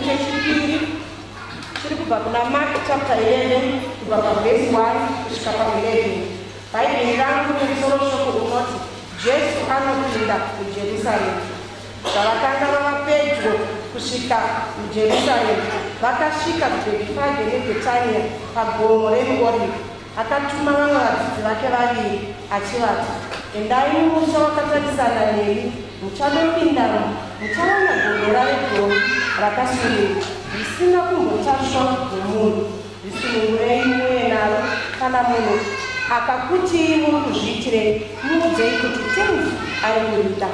chechipiri chiri kubva kuna mark chapter 11 kubva pavhesi 1 kusvika pa11 bhaibheri rangu nemusoro shoko unoti jesu anopinda mujerusaremu zvavakanga vava pedyo kusvika mujerusaremu vakasvika kubhetfage nebhetania pagomo remuoriki Akatuma vamwe vadzidzi vake vaviri achivati, Endai mumusha wakatarisana neni, muchandopindamo, muchawana gondora regovi rakasununguka, risina kumbotasvwa nomunhu. Risunungurei muuye naro, kana munhu akakutii muri kuzviitirei, muudzei kuti tenzi ari kurida.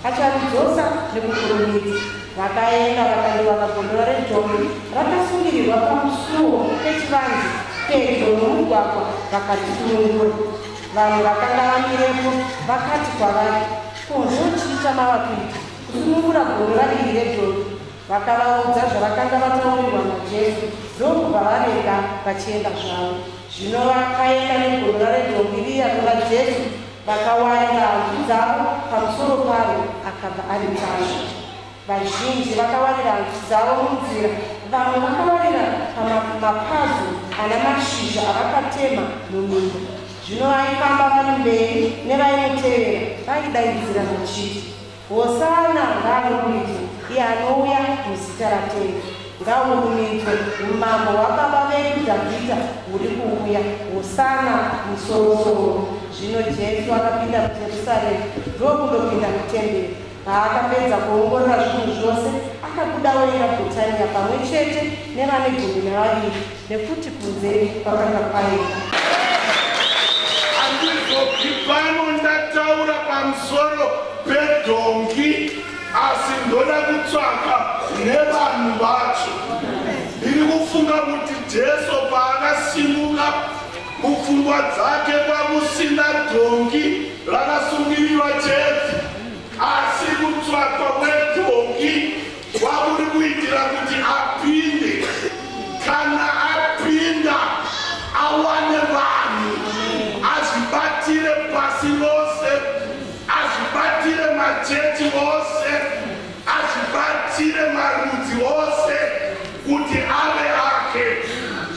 Acharudzosa nekukurumidza vakaenda vakandivaka gondora rejombe rakasungirirwa pamusuwo pechivanzi pedyo nomugwagwa vakatisunungura vanhu vakanga vamirepo vakati kwavari ko zvochii chamava kuita kusunungura gondora iri rejombe Vakavaudza zvavakanga vataurirwa naJesu ndokubva vavenga vachienda zvavo. Zvino vakaenda negorora redombi riya kuna Jesu, vakawaira hanzu dzavo pamusoro paro, akabva ari tasva. Vazhinji vakawaira hanzu dzavo munzira, vamwe vakawaira pamapazu ana mashizha avakatema muminda. Zvino vaifamba vari mberi nevaimutevera vaidaidzira vachiti Hosana ngaarumbidzwe iye anouya muzita raTenzi. Ngahurumbidzwe umambo hwaBaba vedu Dhavhidha huri kuuya. Hosana musorosoro. Zvino Jesu akapinda muJerusaremu ndokundopinda mutemberi. Paakapedza kuongorora zvinhu zvose, akabuda oenda Bhetania pamwe chete nevane gumi navaviri. nekuti kunze kwakanga kwaenda andizopi pano ndataura pamusoro pedhongi asi ndoda kutsvaka nevanhu vacho ndiri kufunga kuti jesu paakasimuka mupfungwa dzake kwakusina dhongi rakasungirirwa chete asi kutsvakwa kwedhongi Kwamuri kuitira kuti apinde kana apinda awane vanhu azvibatire pasi rose azvibatire machechi ose azvibatire marudzi ose kuti ave ake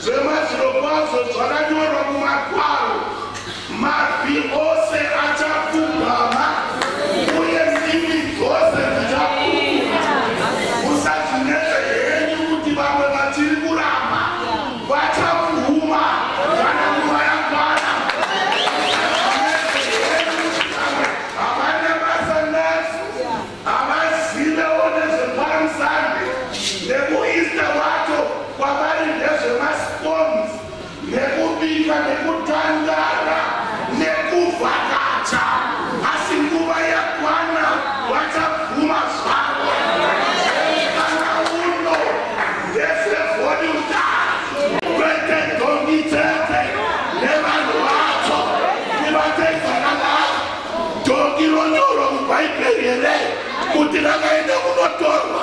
zvemazvirokwazvo zvakanyorwa Mabvi ose achapfugama uye ndimi dzose dzichapfugama. Musadzinetse henyu kuti vamwe vachiri kuramba vachapfuma kana nguva yakwana. Musadzinetse henyu kuti vamwe havana basa nadzo, havazivewo nezvepalm sunday nekueaster wacho kwavari ndezvemascones nekubika nekutandara nekuvhakacha asi nguva yakwana vachabvuma zvavo kana uno ndesevhonita kwete dhongi chete nevanhu vacho tivatezanana dhongi ronyoro mubhaibheri here kuti rakaenda kunotorwa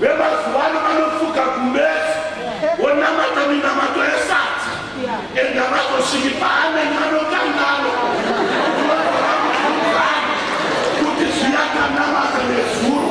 Vemazuva ano vanofuka kumbefu wonamata minamato yesadza enda vatosviki paanenge anokangano kuti zviyakanamata nezuro